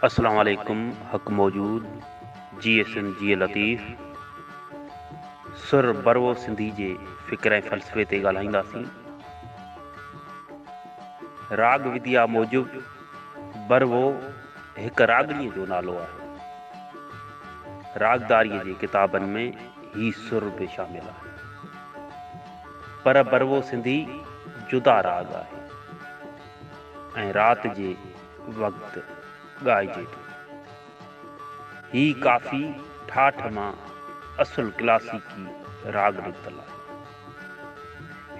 اسلام عليڪم حق موجود جي ايس ايم جي لطيف سر بروو سنڌي جي فڪر ۽ فلسفي تي ڳالهائينداسين راڳ وديا موجب بروو هڪ راڳڻي جو نالو آهي راڳداري جي ڪتابن ۾ هي سر به شامل آهي پر بروو سنڌي جدا راڳ آهي ۽ رات جي وقت ڳائجي ٿو. هي ڪافي ٺاٺ مان اصل ڪلاسيڪي راڳ نڪتل آهي.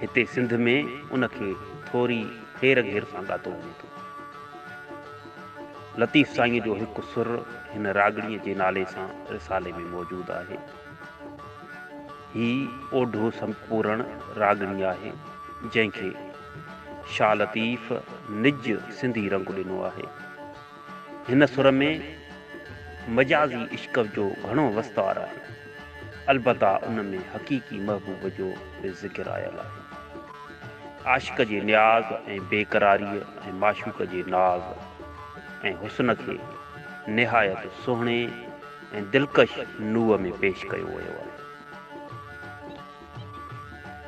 هتي سنڌ ۾ ان کي ٿوري هير گهير سان ڳاتو وڃي ٿو. لطيف سائينء جو هڪ سر هن راڳڻيء جي نالي سان رسالي ۾ موجود آهي. هي اوڍو سمپورڻ راڳڻي آهي، جنهن کي شاهه لطيف نج سنڌي رنگ ڏنو آهي. هن سر ۾ مجازي عشق جو گهڻو وستار آهي. البته ان ۾ حقيقي محبوب جو به ذڪر آيل آهي. عاشق جي نياز ۽ بيقراريء ۽ معشوق جي ناز ۽ حسن کي نهايت سهڻي ۽ دلڪش نوع ۾ پيش ڪيو ويو آهي.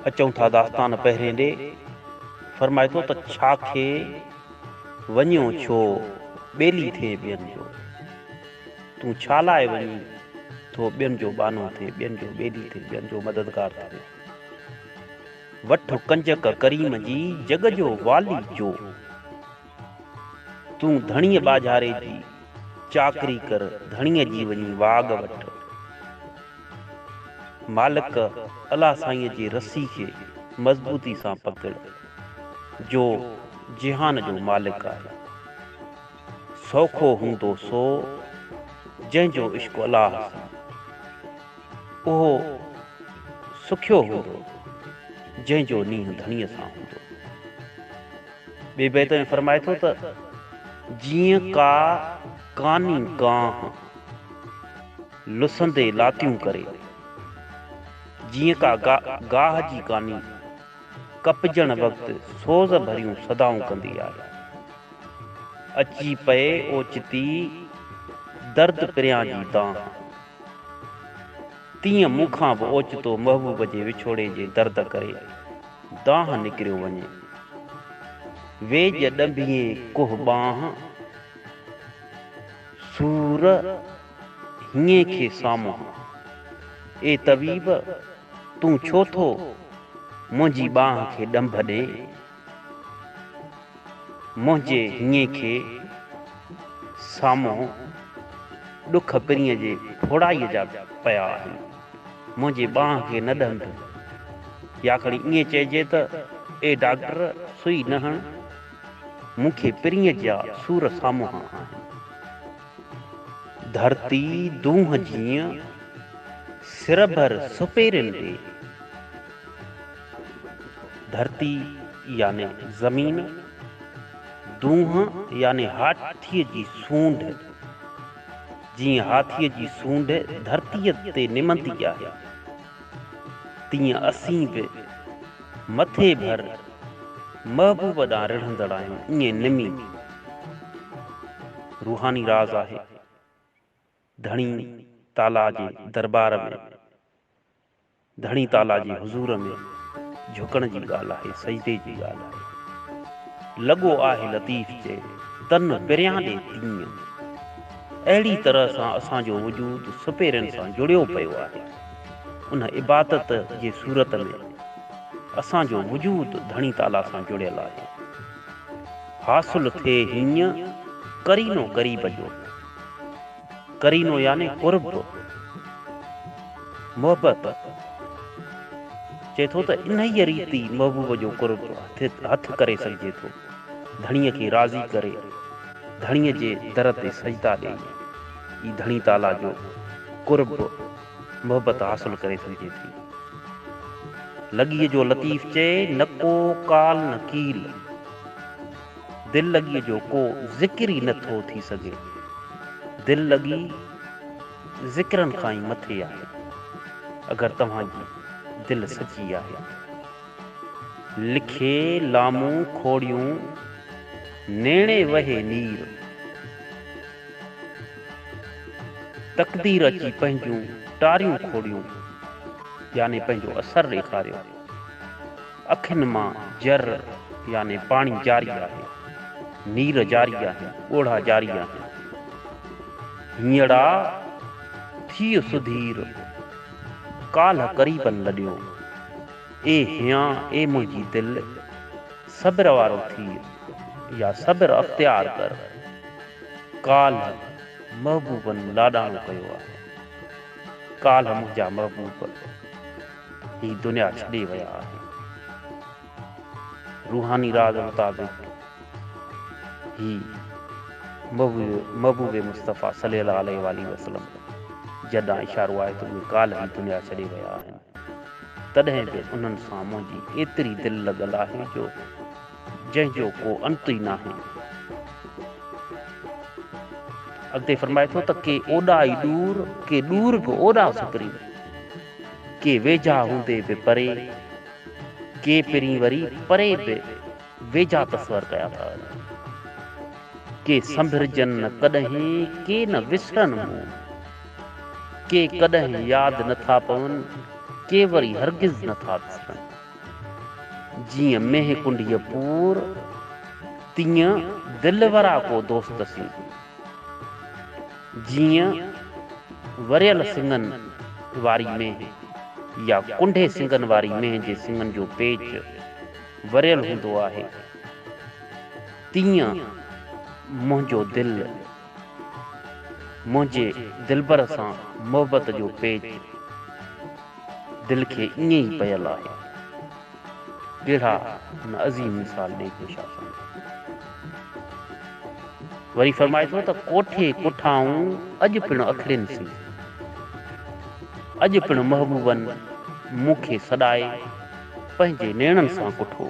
اچون ٿا داستان پهرين ڏي. فرمائي ٿو ته ڇا کي وڃيو ڇو ٻيلي ٿئي ٻين جو. تون ڇا لاء وڃي ٿو ٻين جو ٻانهو ٿئي ٻين جو ٻيلي ٿئي ٻين جو مددگار ٿئي. وٺ ڪنجڪ ڪريم جي جڳ جو والي جو. تون ڌڻيء ٻاجهاري جي چاڪري ڪر، ڌڻيء جي وڃي واڳ وٺ. مالڪ الله سائينء جي رسي کي مضبوطي سان پڪڙ، جو جهان جو مالڪ آهي. سوکو هوندو سو، جنهن جو عشق الله سان، اهو سکيو هوندو، جنهن جو نيهه ڌڻيء سان هوندو. ٻئي بيت ۾ فرمائي ٿو ته، جيئن ڪا ڪاني ڪانه، لسندي لاتيون ڪري. جيئن ڪا گاهه جي ڪاني، ڪپجڻ وقت سوز ڀريون صدائون ڪندي آهي. اچي پئي اوچتي، درد پريان جي دانهن. تيئن مون کان به اوچتو محبوب جي وڇوڙي جي درد ڪري دانهن نڪريو وڃي. ويڄ ڏنڀيين ڪوهه ٻانهن سور هينئين کي سامهون. اي طبيب! تون ڇو ٿو منهنجي ٻانهن کي ڏنڀ ڏين؟ منهنجي هينئين کي سامهون ڏک پرينء جي ڦوڙائيء جا پيا آهن. منهنجي ٻانهن کي نه ڏنڀ، يا کڻي ائين چئجي ته، اي ڊاڪٽر سوئي نه هڻ، مون کي پرينء جا سور سامهون آهن. ڌرتي دونهن جيئن سرڀر سپيرين ڏي. ڌرتي يعني زمين، دونهن يعني هاٿيء جي سونڍ، جيئن هاٿيء جي سونڍ ڌرتيء تي نمندي آهي، تيئن اسين به مٿي ڀر محبوب ڏانهن رڙهندڙ آهيون، ائين نمي روحاني راز آهي، ڌڻي تعاليٰ جي درٻار ۾. ڌڻي تعاليٰ جي حضور ۾ جهڪڻ جي ڳالهه آهي، سجدي جي ڳالهه آهي. لڳو آهه لطيف چئي، تن پريان ڏي تيئن. اهڙي طرح سان اسان جو وجود سپيرين سان جڙيو پيو آهي. ان عبادت جي صورت ۾ اسان جو وجود ڌڻي تعاليٰ سان جڙيل آهي. حاصل ٿئي هيئن قرينو قريب جو. قرينو يعني قرب، محبت، چئي ٿو ته انهيء ريت ئي محبوب جو قرب هٿ ڪري سگهجي ٿو، ڌڻيء کي راضي ڪري، ڌڻيء جي در تي سجدا ڏيئي ئي ڌڻي تعاليٰ جو قرب، محبت، حاصل ڪري سگهجي ٿي. لڳيء جو لطيف چئي، نڪو قال نڪيل. دل لڳيء جو ڪو ذڪر ئي نه ٿو ٿي سگهي. دل لڳي ذڪرن کان ئي مٿي آهي. اگر توهان جي دل سچي آهي ته. لکي لامون کوڙيون نيڻي وهي نير. تقدير اچي پنهنجون ٽاريون کوڙيون يعني پنهنجو اثر ڏيکاريو. اکين مان جر يعني پاڻي جاري آهي، نير جاري آهن، ڳوڙها جاري آهن. هينئڙا ٿيء سڌير، ڪالهه قريبن لڏيو. اي هيان، اي منهنجي دل، صبر وارو ٿيء يا صبر اختيار ڪر. ڪالهه محبوبن لاڏاڻو ڪيو آهي. ڪالهه منهنجا محبوب. هي دنيا ڇڏي ويا آهن. روحاني راز مطابق هي محبوب مصطفيٰ صلي الله عليه واٰله وسلم جن ڏانهن اشارو آهي ته اهي ڪالهه ئي دنيا ڇڏي ويا آهن. تڏهن به انهن سان منهنجي ايتري دل لڳل آهي جو جنهن جو ڪو انت ئي ناهي. اڳتي فرمائي ٿو ته ڪي اوڏا ئي ڏور، ڪي ڏور به اوڏا سپرين، ڪي ويجها هوندي به پري، ڪي پرين وري پري به ويجها تصور ڪيا ٿا وڃن. ڪي سنڀرجن نه ڪڏهين، ڪي نه وسرن مون، ڪي ڪڏهن ياد نه ٿا پون، ڪي وري هرگز نه ٿا وسرن. جيئن مينهن ڪنڊيء پور، تيئن دلبرا ڪو دوست سين. جيئن وريل سنگن واري مينهن يا ڪنڊي سنگن واري مينهن جي سنگن جو پيچ وريل هوندو آهي، تيئن منهنجو دل منهنجي دلبر سان محبت جو پيچ دل کي ائين ئي پيل آهي. ڪهڙا هن عظيم مثال ڏئي ٿو شاهه سمجهي. وري فرمائي ٿو ته ڪوٺي ڪوٺائون اڄ پڻ اکڙين سين. اڄ پڻ محبوبن مون کي سڏائي پنهنجي نيڻن سان ڪٺو.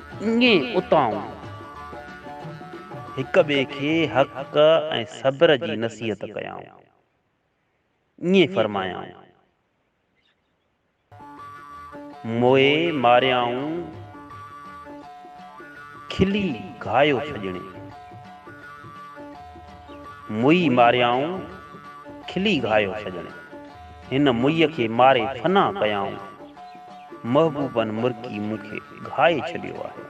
ائين اتائون هڪ ٻئي کي حق ۽ صبر جي نصيحت ڪيائون. ائين فرمايائون. موئي ماريائون کلي گهايو ڇڄڻي. موئي ماريائون کلي گهايو ڇڄڻي. هن موئي کي ماري فنا ڪيائون. محبوبن مرڪي مون کي گهائي ڇڏيو آهي.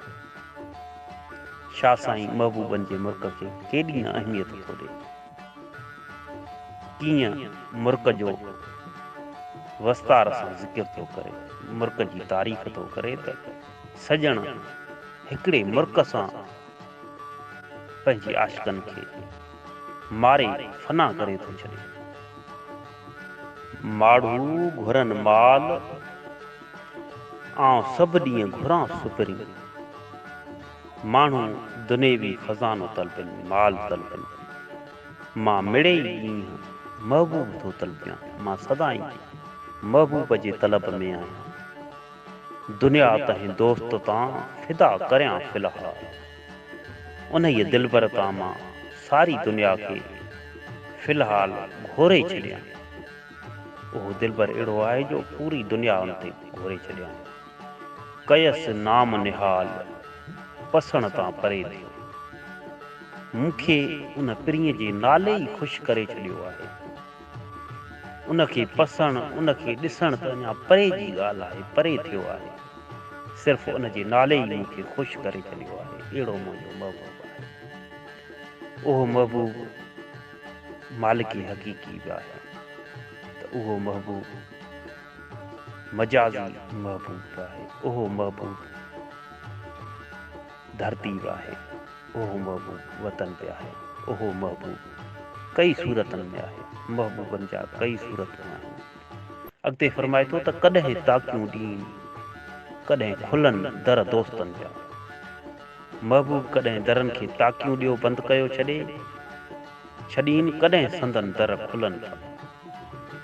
شاهه سائين محبوبن جي مرڪ کي ڪيڏي نه اهميت ٿو ڏي. ڪيئن مرڪ جو وستار سان ذڪر ٿو ڪري، مرڪ جي تعريف ٿو ڪري ته سڄڻ هڪڙي مرڪ سان پنهنجي عاشقن کي ماري فنا ڪري ٿو ڇڏي. ماڙهو گهرن مال، آئون سڀ ڏينهن گهران سپرين. ماڻهو دنيوي خزانو طلبين، مال طلبين. مان مڙئي ڏينهن محبوب ٿو طلبيان، مان سدائين محبوب جي طلب ۾ آهيان. دنيا تنهن دوست تان فدا ڪريان في الحال. انهيء دلبر تان مان ساري دنيا کي في الحال گهوري ڇڏيان. اهو دلبر اهڙو آهي جو پوري دنيا ان تي گهوري ڇڏيان. ڪيس نام نهال پسڻ تان پري ٿيو. مون کي ان پرينء جي نالي ئي خوش ڪري ڇڏيو آهي. ان کي پسڻ، ان کي ڏسڻ ته اڃا پري جي ڳالهه آهي، پري ٿيو آهي. صرف ان جي نالي ئي مون کي خوش ڪري ڇڏيو آهي. اهڙو منهنجو محبوب آهي. اهو محبوب مالڪي حقيقي به آهي ته اهو محبوب مجازي محبوب به آهي. اهو محبوب. ڌرتي به آهي اهو محبوب وطن به آهي اهو محبوب ڪئي صورتن ۾ آهي محبوبن جا ڪئي صورتون آهن اڳتي فرمائي ٿو ته ڪڏهن تاڪيون ڏين ڪڏهن کلن در دوستن جا محبوب ڪڏهن درن کي تاڪيون ڏيو بند ڪيو ڇڏي ڇڏين ڪڏهن سندن در کلن ٿا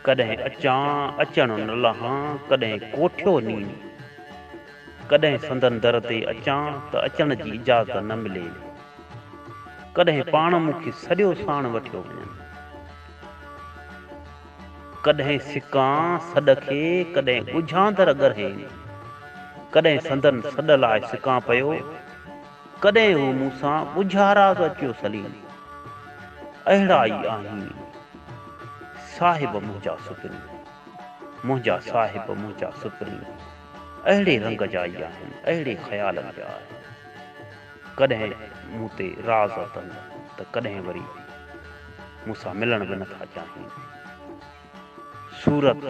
ڪڏهن اچان اچڻ نه لهان ڪڏهن ڪوٺيو نين ڪڏهن سندن در تي اچان ته اچڻ جي اجازت نه ملي، ڪڏهن پاڻ مون کي سڏيو ساڻ وٺيو وڃن، ڪڏهن سڪان سڏ کي، ڪڏهن ڳجهان در ڳرهين، ڪڏهن سندن سڏ لاء سڪان پيو، ڪڏهن هو مون سان ڳجها راز اچيو سليم! اهڙا ئي آهين صاحب منهنجا سپرين! منهنجا صاحب منهنجا سپرين! اهڙي رنگ جا ئي آهن، اهڙي خيالن جا آهن. ڪڏهن مون تي راض اٿن ته ڪڏهن وري مون سان ملڻ به نٿا چاهين. صورت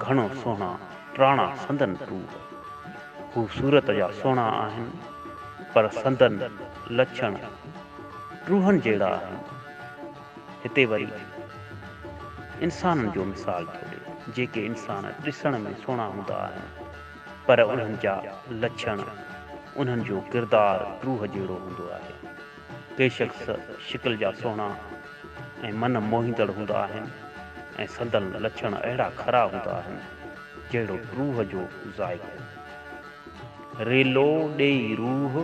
گهڻو سهڻا، ٽراڻا سندن ٽور. هو صورت جا سهڻا آهن، پر سندن لڇڻ ٽوهن جهڙا آهن. هتي وري انسانن جو مثال ٿو ڏي، جيڪي انسان ڏسڻ ۾ سهڻا هوندا آهن، پر انهن جا لڇڻ، انهن جو ڪردار ڊوهه جهڙو هوندو آهي. ڪي شخص شڪل جا سهڻا ۽ من موهيندڙ هوندا آهن ۽ سندن لڇڻ اهڙا کرا هوندا آهن، جهڙو ڊوهه جو ذائقو. ريلو ڏيئي روح.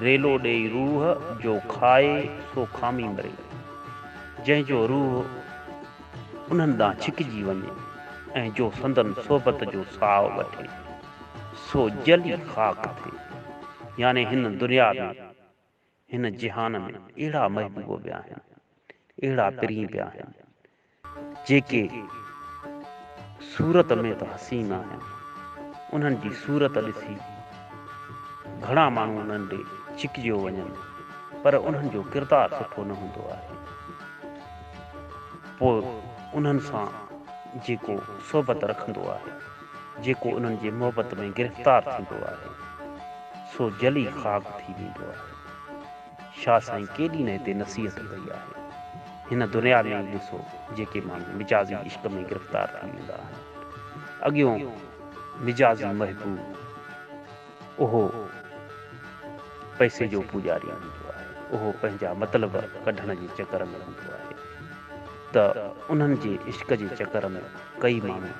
ريلو ڏيئي روح، جو کائي سو کامي مري. جنهن جو روح انهن ڏانهن ڇڪجي وڃي ۽ جو سندن صحبت جو ساهه وٺي، سو جلي خاڪ ٿئي. يعني هن دنيا ۾، هن جهان ۾، اهڙا محبوب به آهن، اهڙا پرين به آهن، جيڪي صورت ۾ ته حسين آهن، انهن جي صورت ڏسي گهڻا ماڻهو انهن ڏي ڇڪجيو وڃن، پر انهن جو ڪردار سٺو نه هوندو آهي. پوء انهن سان جيڪو صحبت رکندو آهي، جيڪو انهن جي محبت ۾ گرفتار ٿيندو آهي، سو جلي خاڪ ٿي ويندو آهي. شاھ سائين ڪيڏي نه هتي نصيحت ڪئي آهي. هن دنيا ۾ ئي ڏسو جيڪي ماڻهو مجازي عشق ۾ گرفتار ٿي ويندا آهن. اڳيون مجازي محبوب اهو پئسي جو پوڄاري هوندو آهي. اهو پنهنجا مطلب ڪڍڻ جي چڪر ۾ هوندو آهي ته انهن جي عشق جي چڪر ۾ ڪئي ماڻهو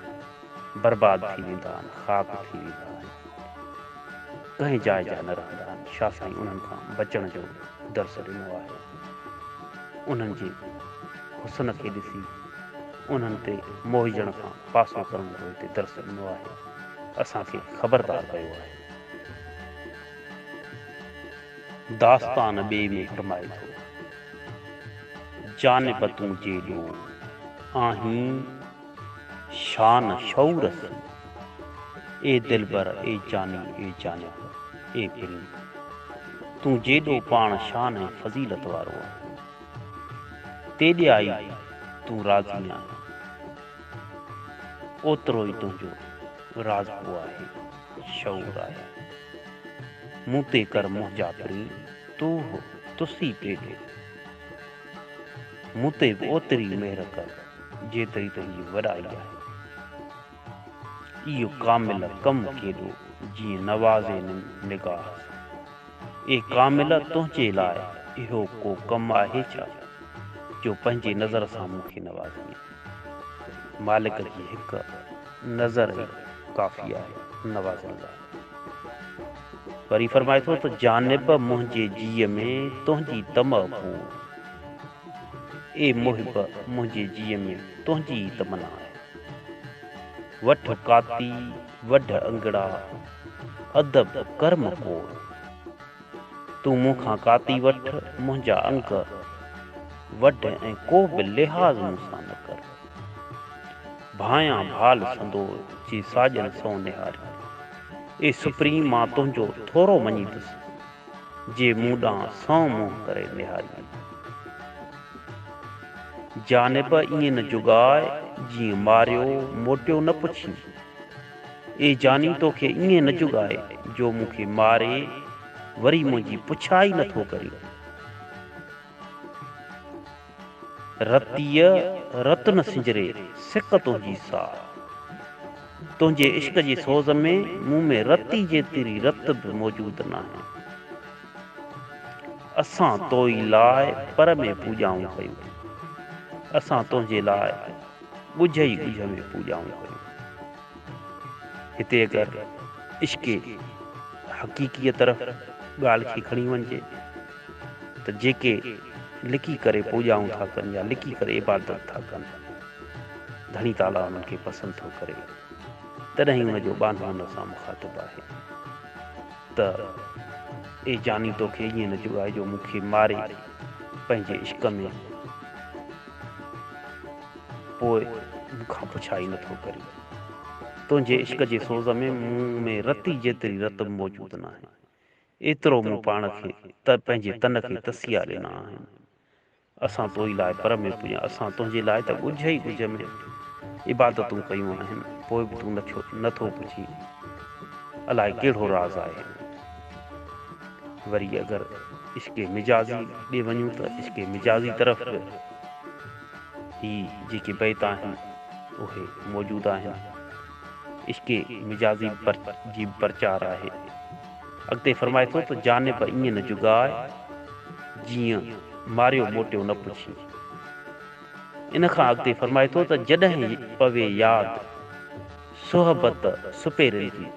برباد ٿي ويندا آهن، خاڪ ٿي ويندا آهن، ڪنهن جاء جا نه رهندا آهن، شاهه سائين انهن کان بچڻ جو درس ڏنو آهي، انهن جي حسن کي ڏسي انهن تي موهجڻ کان پاسو ڪرڻ جو هتي درس ڏنو آهي، اسان کي خبردار ڪيو آهي. داستان ٻئي ۾ فرمائي ٿو، جانب تون جيڏو آهين، شان شعور سين. اي دلبر اي جاني اي جانب اي پرين تون جيڏو پاڻ شان ۽ فضيلت وارو آهين. تيڏيا ئي تون رازي آهين. اوترو ئي تنهنجو رازپو آهي، شعور آهي. مون تي ڪر منهنجا پرين، توهه تسي پيڏو. مون تي به اوتري مهر ڪر جيتري تنهنجي وڏائي آهي. اهو ڪامله ڪم ڪيڏو جيئن نوازي نگاهه سان. اي ڪامله تنهنجي لاء اهو ڪو ڪم آهي ڇا جو پنهنجي نظر سان مون کي نوازينء. مالڪ جي هڪ نظر ئي ڪافي آهي نوازڻ لاء. وري فرمائي ٿو ته جانب منهنجي جيء ۾ تنهنجي طمع ڪوڙ، اي محب منهنجي جيء ۾ تنهنجي ئي تمنا آهي. وٺ ڪاتي، وڍ انگڙا، ادب ڪرم ڪوڙ. تون مون کان ڪاتي وٺ، منهنجا انگ وڍ ۽ ڪو به لحاظ مون سان نه ڪر. ڀانئيان ڀال سندور جي ساڄن سئو نهاري. اي سپريم مان تنهنجو ٿورو مڃي ٿس، جي مون ڏانهن سئو منهن ڪري نهاريئي. جانب ائين نه جڳاء جيئن ماريو موٽيو نه پڇين. اي جاني توکي ائين نه جڳاء جو مون کي ماري وري منهنجي پڇا ئي نه ٿو ڪرين. رتيء رت نه سنجري سڪ تنهنجي سار. تنهنجي عشق جي سوز ۾ مون ۾ رتي جيتري رت به موجود ناهي. اسان توئي لاء پر ۾ پوڄائون ڪيون. اسان تنهنجي لاء ڳجهه ئي ڳجهه ۾ پوڄائون ڪيون. هتي اگر عشق حقيقيء طرف ڳالهه کي کڻي وڃجي. ته جيڪي لڪي ڪري پوڄائون ٿا ڪن يا لڪي ڪري عبادت ٿا ڪن، ڌڻي تعاليٰ انهن کي پسند ٿو ڪري، تڏهن ئي ان جو ٻانهو ان سان مخاطب آهي ته، اي جاني توکي ائين نه جوڳائي جو مون کي ماري پنهنجي عشق ۾ پوء مون کان پڇائي نه ٿو ڪرين. تنهنجي عشق جي سوز ۾ مون ۾ رتي جيتري رتب موجود ناهي. ايترو مون پاڻ کي ته پنهنجي تن کي تسيا ڏنا آهن. اسان توئي لاء پر ۾ پڄا اسان تنهنجي لاء ته ڳجهه ئي ڳجهه ۾ عبادتون ڪيون آهن پوء به تون نڇو نٿو پڇين الائي ڪهڙو راز آهي وري اگر عشق مجازي ڏي وڃون ته عشق مجازي طرف به هي جيڪي بيت آهن اهي موجود آهن عشق مجازي جي به پرچار آهي. اڳتي فرمائي ٿو ته جانب ائين نه جڳاء، جيئن ماريو موٽيو نه پڇين. ان کان اڳتي فرمائي ٿو ته جڏهن پوي ياد صحبت سپيرن جي،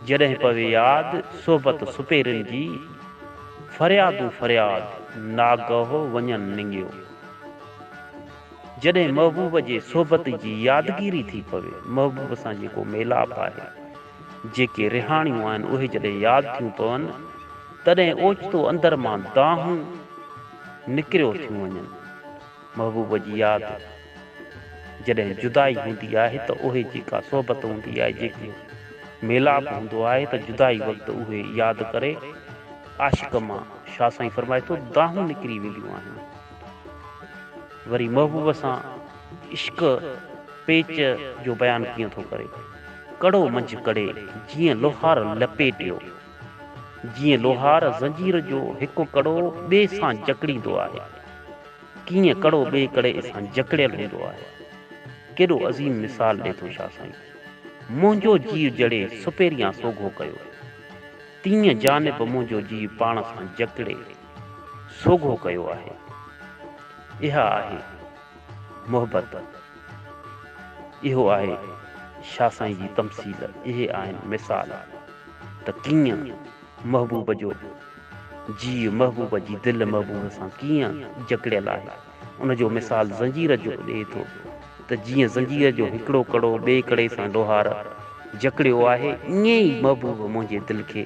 جڏهن پوي ياد صحبت سپيرن جي، فريادون فرياد ناگهه وڃن ننگيو. جڏهن محبوب جي صحبت جي يادگيري ٿي پوي، محبوب سان جيڪو ميلاپ آهي، جيڪي رهاڻيون آهن اهي جڏهن ياد ٿيون پون تڏهن اوچتو اندر مان دانهون نڪريو ٿيون وڃن. محبوب جي ياد جڏهن جدائي هوندي آهي ته اهي جيڪا صحبت هوندي آهي جيڪو ميلاپ هوندو آهي ته جدائي وقت اهي ياد ڪري عاشق مان شاهه سائين فرمائي ٿو دانهون نڪري وينديون آهن وري محبوب سان عشق پيچ جو بيان ڪيئن ٿو ڪري. ڪڙو منجهه ڪڙي جيئن لوهار لپيٽيو. جيئن لوهار زنجير جو هڪ ڪڙو ٻئي سان جڪڙيندو آهي. ڪيئن ڪڙو ٻئي ڪڙي سان جڪڙيل هوندو آهي. ڪيڏو عظيم مثال ڏي ٿو شاهه سائين. منهنجو جيء جڙي سپهريان سوگهو ڪيو. تيئن جانب به منهنجو جيء پاڻ سان جڪڙي سوگهو ڪيو آهي. اها آهي. محبت اهو آهي شاهه سائين جي تمثيل اهي آهن مثال ته ڪيئن محبوب جو جيء محبوب جي دل محبوب سان ڪيئن جڪڙيل آهي ان جو مثال زنجير جو ڏئي ٿو ته جيئن زنجير جو هڪڙو ڪڙو ٻئي ڪڙي سان لوهار جڪڙيو آهي ائين ئي محبوب منهنجي دل کي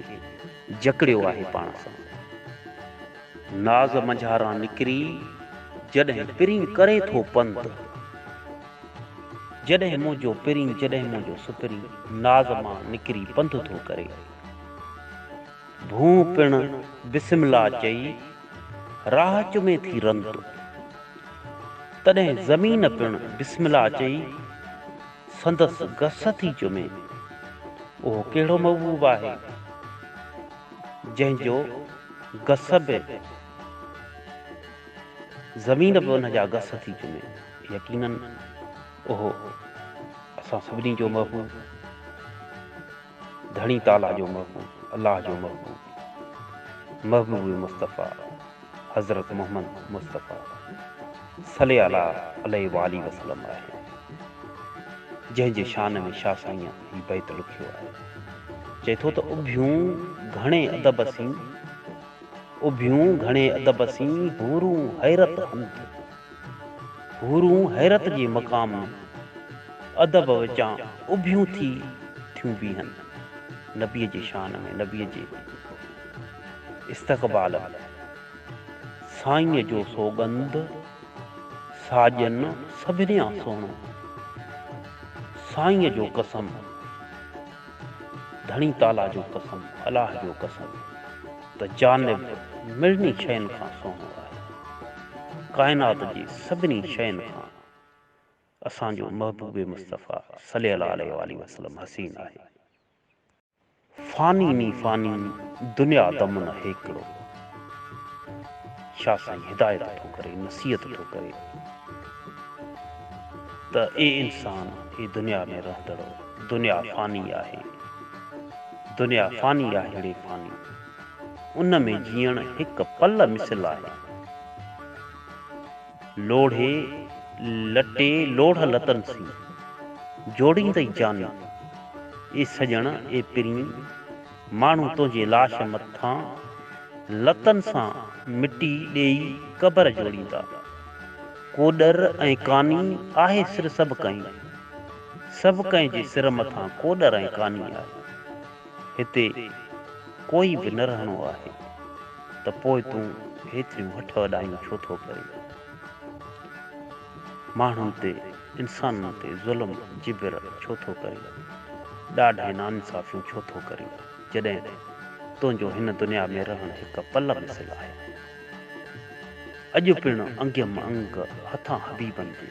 جڪڙيو آهي پاڻ سان. ناز منجهاران نڪري جڏهن پرين ڪري ٿو پنڌ. جڏهن منهنجو پرين جڏهن منهنجو سپرين ناز مان نڪري پنڌ ٿو ڪري. ڀونء پڻ بسم الله چئي راهه چمي ٿي رنت. تڏهن زمين پڻ بسم الله چئي سندس گس ٿي چمي. اهو ڪهڙو محبوب آهي جنهن جو. گس به زمين به ان جا گس ٿي چمي يقينن اهو اسان سڀني جو محبوب ڌڻي تعاليٰ جو محبوب الله جو محبوب محبوب مصطفيٰ حضرت محمد مصطفيٰ صلي الله عليه وآله وسلم آهي جنهن جي شان ۾ شاه سائين هي بيت لکيو آهي. چئي ٿو ته اڀيون گهڻي ادب سين، اڀيون گهڻي ادب سين حورون حيرت هنڌ، حورون حيرت جي مقام ۾، ادب وچان اڀيون ٿي ٿيون بيهن، نبيء جي شان ۾، نبيء جي استقبال ۾، سائينء جو سوڳنڌ. ساڄن سڀنيان سهڻو، سائينء جو قسم، ڌڻي تعاليٰ جو قسم، الاهه جو قسم ته جانب مڙني شين کان سهڻو آهي. ڪائنات جي سڀني شين کان اسان جو محبوب مصطفيٰ صلي الله عليه واٰله وسلم حسين آهي. فاني ني فاني دنيا دمن هيڪڙو. شاھ سائين هدايت ٿو ڪري نصيحت ٿو ڪري ته اي انسان اي دنيا ۾ رهندڙو دنيا فاني آهي دنيا فاني آهيڙي فاني ان ۾ جيئڻ هڪ پل مثل آهي. لوڙهي لٽي لوڙهه لتن سين، جوڙيندئي جاني، اي سڄڻ اي پرين، ماڻهو تنهنجي لاش مٿان، لتن سان مٽي ڏيئي قبر جوڙيندا. ڪوڏر ۽ ڪاني آهي سر سڀ ڪنهن، سڀ ڪنهن جي سر مٿان ڪوڏر ۽ ڪاني آهي. هتي ڪوئي به نه رهڻو آهي. ته پوء تون هيتريون هٺ وڏايون ڇو ٿو ڪرين؟ ماڻهن تي، انسانن تي ظلم جبر ڇو ٿو ڪرين؟ ڏاڍ ۽ ناانصافيون ڇو ٿو ڪرين؟ جڏهن ته تنهنجو هن دنيا ۾ رهڻ هڪ پل مثل آهي. اڄ پڻ انگيم انگ هٿان حبيبن جي.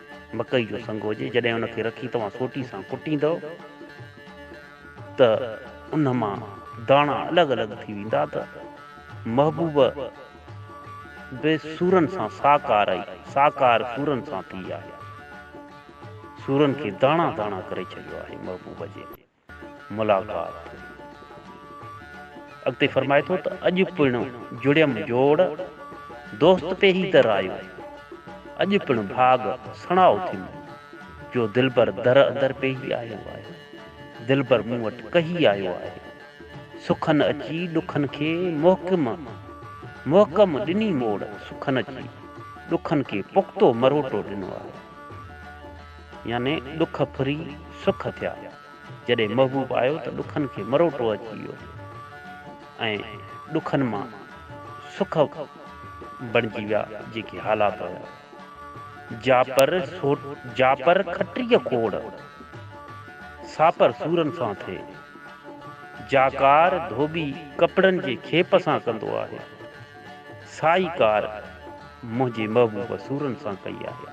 مڪئي جو سنگ هجي، جڏهن ان کي رکي توهان سوٽي سان ڪٽيندؤ ته ان مان داڻا الڳ الڳ ٿي ويندا ته محبوب به سورن سان ساڪار ئي ساڪار سورن سان ٿي آهي. سورن کي داڻا داڻا ڪري ڇڏيو آهي محبوب جي. ملاقات اڳتي فرمائي ٿو ته اڄ پڻ جڙيم جوڙ، دوست تي هي در آيو، اڄ پڻ ڀاڳ سڻاء اٿيم، جو دلبر در اندر پيهي آيو آهي، دلبر مون وٽ ڪهي آيو آهي، سخن اچي ڏکن کي محڪم محڪم ڏني موڙ، سخن اچي ڏکن کي پختو مروٽو ڏنو آهي. يعني ڏک ڦري سک ٿيا. جڏهن محبوب آيو ته ڏکن کي مروٽو اچي ويو ۽ ڏکن مان سک بڻجي ويا جيڪي حالات هيا. جاپر سوٽ جاپر کٽيء کوڙ، ساپر سورن سان ٿئي. جاکار ڌوٻي ڪپڙن جي کيپ سان ڪندو آهي. سائي ڪار منهنجي محبوب سورن سان ڪئي آهي.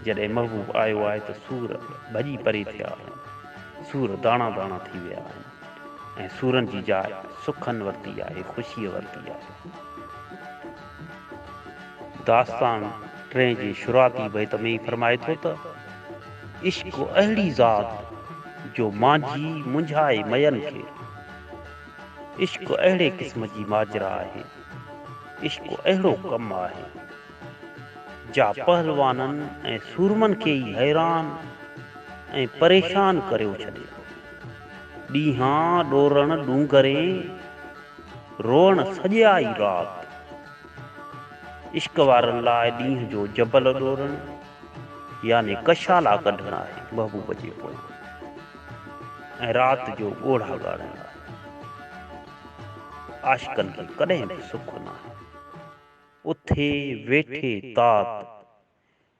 جڏهن محبوب آيو آهي ته سور ڀڄي پري ٿيا آهن. سور داڻا داڻا ٿي ويا آهن ۽ سورن جي جاء سکن ورتي آهي، خوشيء ورتي آهي. داستان ٽئين جي شروعاتي بيت ۾ ئي فرمائي ٿو ته. عشق اهڙي ذات جو مانجهي منجهائي مئن کي. عشق اهڙي قسم جي ماجرا آهي، عشق اهڙو ڪم آهي، جا پهلوانن ۽ سورمن کي ئي حيران ۽ پريشان ڪريو ڇڏي ٿو. ڏينهان ڏورڻ ڏونگرين روئڻ سڄا ئي رات. عشق وارن لاء ڏينهن جو جبل ڏورڻ. يعني ڪشالا ڪڍڻ آهي محبوب جي پويان ۽ رات جو ڳوڙها ڳاڙڻ آهي عاشقن کي ڪڏهن به سک ناهي اٿي ويٺي تات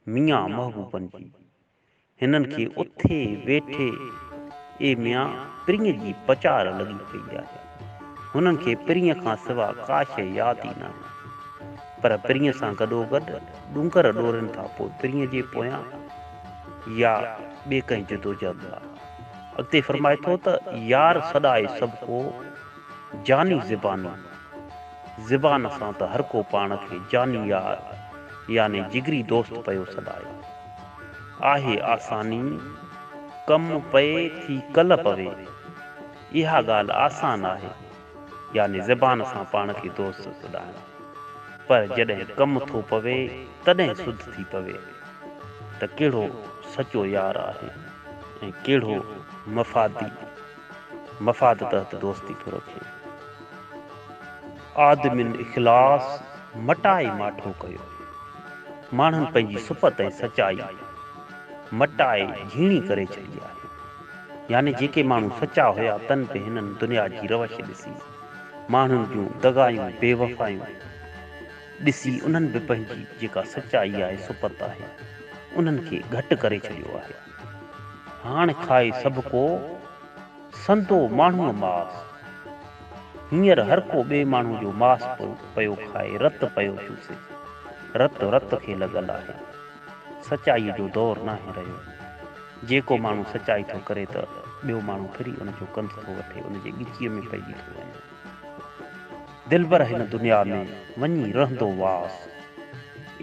ميان محبوبن جي هنن کي اٿي ويٺي اي ميان پرينء جي پچار لڳي پئي آهي. هنن کي پرينء کان سوا ڪا شيء ياد ئي نه آئي، پر پرينء سان گڏوگڏ ڏونگر ڏورين کان پوء پرينء جي پويان يا ٻي ڪنهن جدوجهد لاء. اڳتي فرمائي ٿو ته، يار سڏائي سڀ ڪو، جاني زباني. زبان سان ته هر ڪو پاڻ کي جاني يار يعني جگري دوست پيو سڏائي. آهي آساني، ڪم پئي ٿي ڪل پوي. اها ڳالهه آسان آهي، يعني زبان سان پاڻ کي دوست سڏائڻ، پر جڏهن ڪم ٿو پوي تڏهن سڌ ٿي پوي ته ڪهڙو سچو يار آهي ۽ ڪهڙو مفادي، مفاد تحت دوستي ٿو رکي. آدمين اخلاص مٽائي ماٺو ڪيو. ماڻهن پنهنجي سپت ۽ سچائي مٽائي جهيڻي ڪري ڇڏي آهي. يعني جيڪي ماڻهو سچا هيا تن به هنن دنيا جي روش ڏسي ماڻهن جون دغايون بي وفايون ڏسي انهن به پنهنجي جيڪا سچائي آهي صفت آهي انهن کي گهٽ ڪري ڇڏيو آهي هاڻ کائي سڀ ڪو سندو ماڻهوء ماس هينئر هر ڪو ٻئي ماڻهو جو ماس پيو کائي رت پيو چوسي رت رت کي لڳل آهي سچائي جو دور ناهي رهيو جيڪو ماڻهو سچائي ٿو ڪري ته ٻيو ماڻهو ڦري ان جو ڪنڌ ٿو وٺي ان جي ڳچيء ۾ پئجي ٿو وڃي. دلبر هن دنيا ۾ وڃي رهندو واس.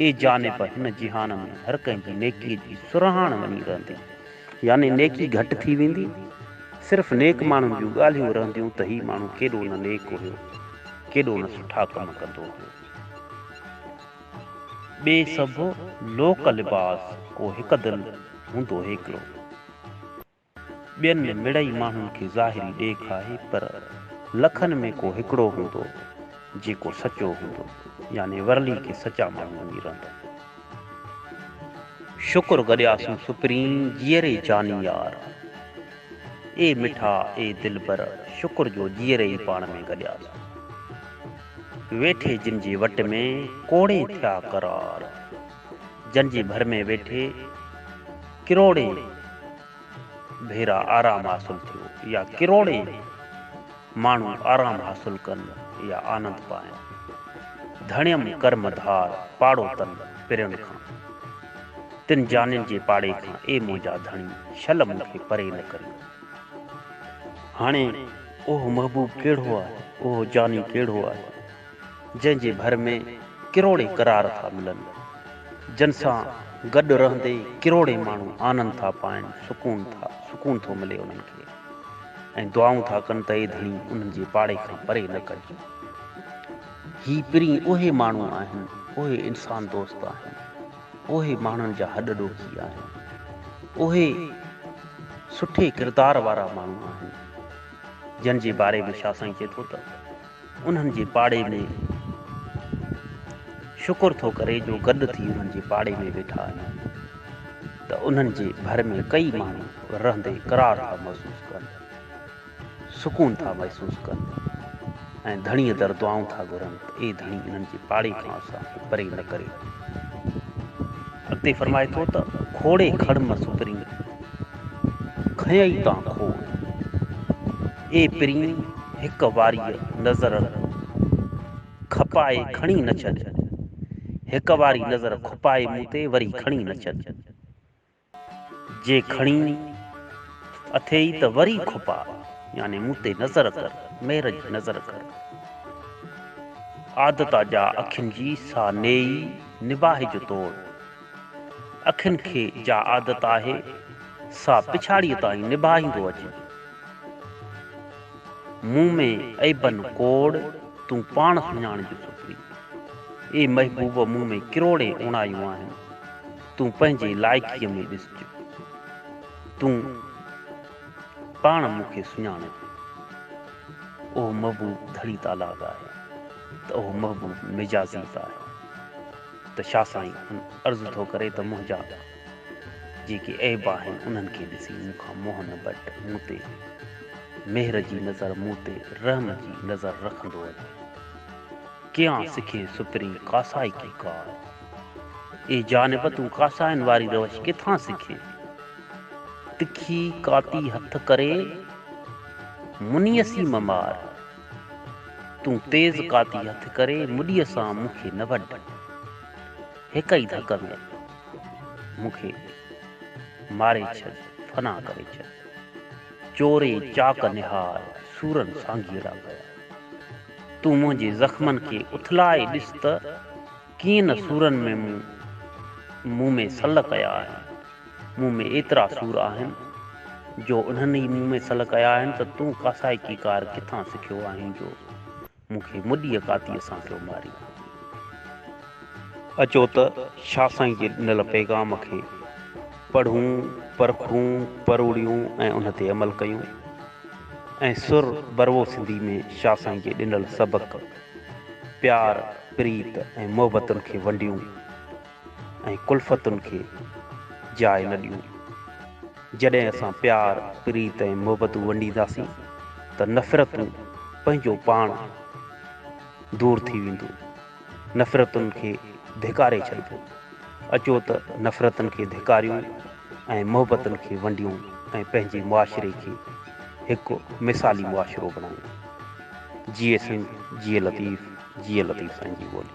اي جانب هن جهان ۾ هر ڪنهن جي نيڪيء جي سرهاڻ وڃي رهندي. يعني نيڪي گهٽ ٿي ويندي. صرف نيڪ ماڻهن جون ڳالهيون رهنديون ته هي ماڻهو ڪيڏو نه نيڪ هيو، ڪيڏو نه سٺا ڪم ڪندو هيو. ٻئي سڀ لوڪ لباس ڪو هڪ دل هوندو هيڪلو ٻين ۾ مڙئي ماڻهن کي ظاهري ڏيک آهي پر لکن ۾ ڪو هڪڙو هوندو جيڪو سچو هوندو يعني ورلي کي سچا ماڻهو وڃي رهندو شڪر گڏياسون سپرين جيئري جاني يار اي مٺا اي دلبر شڪر جو جيئري ئي پاڻ ۾ گڏياسون. ويٺي جن جي وٽ ۾ ڪوڙي ٿيا قرار. جن جي ڀر ۾ ويٺي ڪروڙين ڀيرا آرام حاصل ٿيو يا ڪروڙين ماڻهو آرام حاصل ڪن يا آنند پائن. ڌڻيم ڪرم ڌار پاڙو تن پرين کان. تن جانين جي پاڙي کان اي منهنجا ڌڻي شل مون کي پري نه ڪريو. هاڻي اهو محبوب ڪهڙو آهي، اهو جاني ڪهڙو آهي، جنهن جي ڀر ۾ ڪروڙين قرار ٿا ملن، جن سان گڏ رهندي ڪروڙين ماڻهو آنند ٿا پائن، سڪون ٿا، سڪون ٿو ملي انهن کي ۽ دعائون ٿا ڪن ته اي ڌڻي انهن جي پاڙي کان پري نه ڪج. هي پرين اهي ماڻهو آهن، اهي انسان دوست آهن. اهي ماڻهن جا هڏ ڏوکي آهن. اهي سٺي ڪردار وارا ماڻهو آهن. جن جي باري ۾ شاهه سائين چئي ٿو ته انهن جي پاڙي ۾ شڪر ٿو ڪري جو گڏ ٿي انهن جي پاڙي ۾ ويٺا آهيون ته انهن جي ڀر ۾ ڪئي ماڻهو رهندي قرار ٿا محسوس ڪن. سڪون ٿا محسوس ڪن ۽ ڌڻيء در دعائون ٿا گهرن ته اي ڌڻي انهن جي پاڙي کان اسان کي پري نه ڪري. اڳتي فرمائي ٿو ته کوڙي کڙ م سپرين، کنئي تان کوڙ، اي پرين هڪ واريء نظر کپائي کڻي نه ڇڏ، هڪ واري نظر کپائي مون تي وري کڻي نه ڇڏ. جي کڻي اٿئي ته وري کپاء، يعني مون تي نظر ڪر، مير جي نظر ڪر. عادتا جا اکين جي سا نيئي نباهه جو توڙ، اکين کي جا عادت آهي، سا پڇاڙيء تائين نباهيندو اچجي. مون ۾ عيبن ڪوڙ، تون پاڻ سڃاڻجو سپري. اي محبوب مون ۾ ڪروڙين اوڻايون آهن. تون پنهنجي لائقيء ۾ ڏسجي. تون پاڻ مون کي سڃاڻين. اهو محبوب ڌڻي تالاب آهي ته اهو محبوب مجازي به آهي ته شاهه سائين هن عرض ٿو ڪري ته منهنجا جيڪي عيب آهن انهن کي ڏسي مون کان منهن نه بٽ مون تي مهر جي نظر مون تي رحم جي نظر رکندو وڃ. ڪيان سکين سپرين ڪاسائي ڪي ڪار. اي جانب تون ڪاسائين واري روش ڪٿان سکين؟ تکي ڪاتي هٿ ڪري منيسي م مار. تون تيز ڪاتي هٿ ڪري مڏيء سان مون کي نه وڍ. هڪ ئي ڌڪ ۾ مون کي ماري ڇڏ فنا ڪري ڇڏ. چوري چاڪ نهار سورن سانگيئڙا ڪيا. تون منهنجي زخمن کي اٿلائي ڏس ته ڪيئن نه سورن ۾ مون مون ۾ سل ڪيا آهن. مون ۾ ايترا سور آهن جو انهن ئي مون ۾ سل ڪيا آهن ته تون ڪاسائڪي ڪار ڪٿان سکيو آهين جو مون کي مڏيء ڪاتيء سان پيو مارين. اچو ته شاهه سائين جي ڏنل پيغام کي پڙهون، پرکون، پروڙيون ۽ ان تي عمل ڪيون. ۽ سر بروو سنڌي ۾ شاھ سائين جي ڏنل سبق، پيار، پريت ۽ محبتن کي ونڊيون ۽ ڪلفتن کي جاء نه ڏيون. جڏهن اسان پيار، پريت ۽ محبتون ونڊينداسين ته نفرتون پنهنجو پاڻ دور ٿي وينديون. نفرتن کي ڌڪاري ڇڏبو. اچو ته نفرتن کي ڌڪاريون ۽ محبتن کي ونڊيون ۽ پنهنجي معاشري کي هڪ مثالي معاشرو بڻايون. جيئي سنڌ، جيئي لطيف، جيئي لطيف سائين جي ٻولي.